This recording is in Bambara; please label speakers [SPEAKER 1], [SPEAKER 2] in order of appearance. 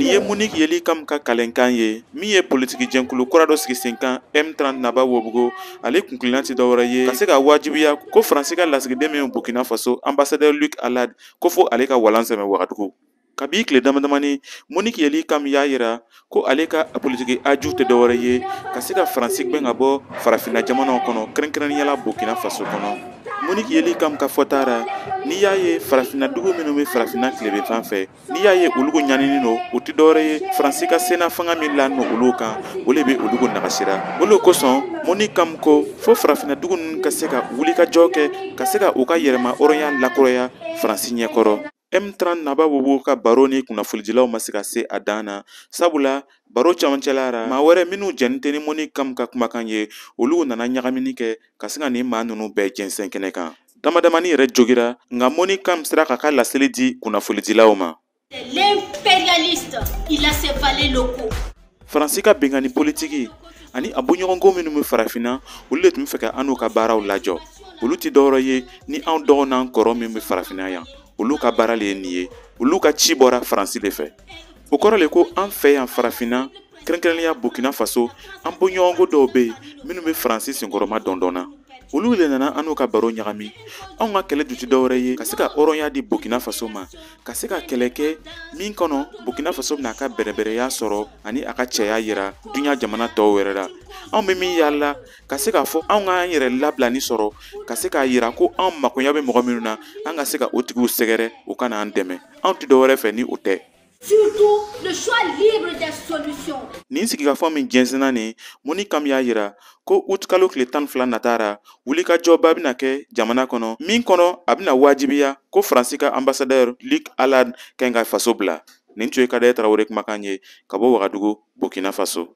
[SPEAKER 1] ye moniki yeli kam ka kalenkan ye min ye politiki jɛnkulu kura dɔ sigi sen kan m30 naba wobugo ale kunkilenna tɛ dɔwɛrɛ ye ka se ka wajibiya ko faransi ka lasigiden min burkina faso anbasadɛr luk alad ko fo ale ka walan sɛmɛ wagadugu kabi tile damadamani moniki yeli kam y'a yira ko ale ka politiki a ju tɛ dɔwɛrɛ ye ka se ka faransi gwɛn ka bɔ farafinna jamanaw kɔnɔ kɛrɛnkɛrɛnninya la burkina faso kɔnɔ moniki yeli kam ka fɔta ra n'i y'a ye farafinna dugu minnu be farafinna tileben fan fɛ n'i y'a ye olugu ɲaninin lo o tɛ dɔwɛrɛ ye faransi ka senna fanga min lanin olu kan o le be olugu nagasira o le kosɔn moni kam ko fo farafinna dugu ninnu ka se ka wulikajɔ kɛ ka se ka u ka yɛrɛmahɔrɔnya lakuraya faransi ɲɛkɔrɔ M30 naba wobugo ka baro ni kunnafonidilaw ma se ka se a dan na sabula baro camancɛla ra maa wɛrɛ minnu jɛnnin tɛ ni moni kam ka kumakan ye olu nana ɲagamini kɛ ka se ka nin maa ninnu bɛɛ jɛnsɛn kɛnɛ kan damadamani yɛrɛ jogira nka moni kam sera k'a ka laseli di kunnafonidilaw ma L'impérialiste,
[SPEAKER 2] il a ses valets locaux. faransi
[SPEAKER 1] ka benkanni politiki ani a bɔɲɔgɔnko minnu bɛ farafinna olu le tun bɛ fɛ ka annu ka baaraw lajɔ olu tɛ dɔwɛrɛ ye ni anw dɔgɔ n'an kɔrɔ min bɛ farafinna yan olu ka baara le ye nin ye olu ka ci bɔra faransi le fɛ o kɔrɔ le ko an fɛ yan farafinna kɛrɛnkɛrɛnnenya burkina faso an bɔɲɔgɔnko dɔw bɛ yen minnu bɛ faransi senkɔrɔmadondon na olu le nana annu ka baro ɲagami anw ka kɛlɛ ju tɛ dɔwɛrɛ ye ka se ka hɔrɔnya di burkina faso ma ka se ka kɛlɛ kɛ min kɔnɔ burkina faso bɛna a ka bɛrɛbɛrɛya sɔrɔ ani a ka cɛya yira duniɲa jamana tɔw wɛrɛ la anw bɛ min yaala ka se k'a fɔ anw k'an yɛrɛ labilani sɔrɔ ka se k'a yira ko anw makoya bɛ mɔgɔ minnu na an ka se ka o tigiw sɛgɛrɛ u ka n'an dɛmɛ anw tɛ dɔwɛrɛ fɛ ni o tɛ
[SPEAKER 2] Surtout le choix libre des solutions. Nin sigikafɔ
[SPEAKER 1] min jɛnsɛnna nin moni kam y'a yira ko utikalo tile tan ni fila nata ra wulikajɔba bɛna kɛ jamana kɔnɔ min kɔnɔ a bɛna wajibiya ko faransi ka anbasadɛr luk alad kan ka faso bila nin tun ye kadɛrɛ tarawele kumakan ye ka bɔ wagadugu burkina faso